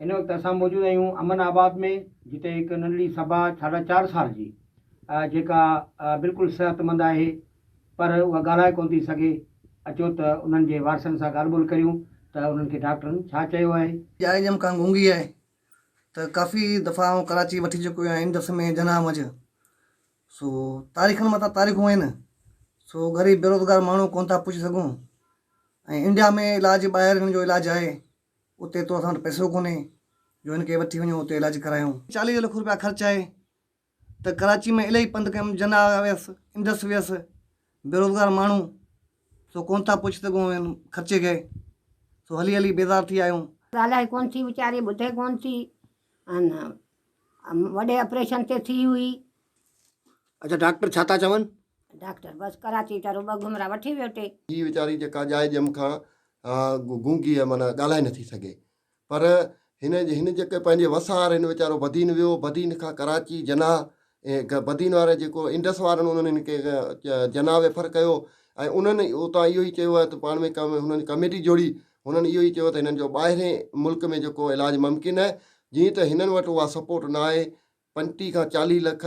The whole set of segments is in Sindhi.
هن وقت اسان موجود آهيون امن آباد ۾ جتي هڪ ننڍڙي صبا ساڍا چار سال جي جيڪا بلڪل صحت مند آهي پر اها ڳالهائي ڪون ٿي سگهي اچو ته انهن جي وارثن سان ڳالهه ٻولهه ڪريون ته انهن کي ڊاڪٽرن ڇا چيو آهي. جاء جم کان گونگي آهي ته ڪافي دفعا آئون ڪراچي وٺي چڪو آهيان ان درس ۾ جناح منجهه سو تاريخن مٿان تاريخون آهن سو غريب بيروزگار ماڻهو ڪونه ٿا پهچي سگهون ۽ انڊيا ۾ علاج ٻاهر هن جو علاج آهي اتي تو اسان وٽ پئسو ڪونهي جو هن کي وٺي وڃون اتي علاج ڪرايون چاليهه لک روپيا خرچ آهي ته ڪراچي ۾ الائي پنڌ ڪيم جنا ويس انڊس ويس بيروزگار ماڻهو سو ڪونه ٿا پهچي سگهون هن خرچي کي سو هلي هلي بيزار ٿي ويا آهيون ڳالهائي ڪونه ٿي ويچاري ٻڌي ڪونه ٿي ان وڏي آپريشن تي ٿي هئي. اڇا ڊاڪٽر ڇا ٿا چون. ڊاڪٽر بس ڪراچي تان رڳو گهمرا وٺي ويو ٽي. هي ويچاري جيڪا ڄائي ڄم کان گونگي آهي معنيٰ ڳالهائي نٿي سگهي پر هن هن جيڪي پنهنجي وسار هن ويچارو بدين ويو بدين کان ڪراچي جناح اهي بدين وارا جيڪو انڊس وارن انهن هن کي جناب فر ڪيو ۽ انهن اتان اهو ئي چيو آهي ته پاڻ ۾ هنن ڪميٽي جوڙي هنن اهو ئي چيو ته هنن جو ٻاهرين ملڪ ۾ جيڪو علاج ممڪن آهي جيئن ته هنن وٽ اها سپورٽ نه آهي پنجٽيهه کان چاليهه لک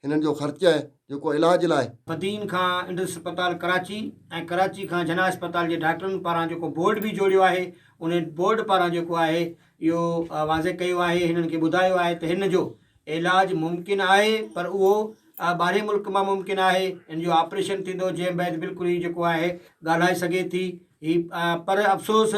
هنن جو خرچ آهي جيڪو علاج لاء بدين کان انڊس اسپتال ڪراچي ۽ ڪراچي کان جناح اسپتال جي ڊاڪٽرن پاران جيڪو بورڊ به جوڙيو آهي انهي بورڊ پاران جيڪو آهي اهو واضح ڪيو آهي هنن کي ٻڌايو آهي ته هن جو علاج ممڪن آهي پر اهو ٻاهرين ملڪ مان ممڪن آهي هن جو آپريشن ٿيندو جنهن بعد بلڪل هي جيڪو آهي ڳالهائي سگهي ٿي هي پر افسوس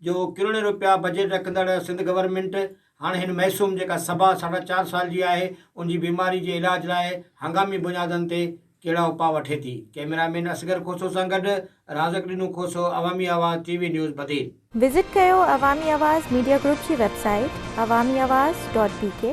جو ڪروڙين روپيا بجيٽ رکندڙ سنڌ گورنمينٽ هاڻي هن معصوم جيڪا سبا ساڍا چار سال جي آهي ان جي بيماري جي علاج لاء هنگامي بنيادن تي ڪهڙا اپاء وٺي ٿي؟ ڪئميرا مين اصغر کوسو سان گڏ رازق ڏنو Khoso, Awami Awaz, T V news Badin. Visit ڪيو عوامي آواز ميڊيا گروپ جي web site Awami Awaz dot بي ڪي.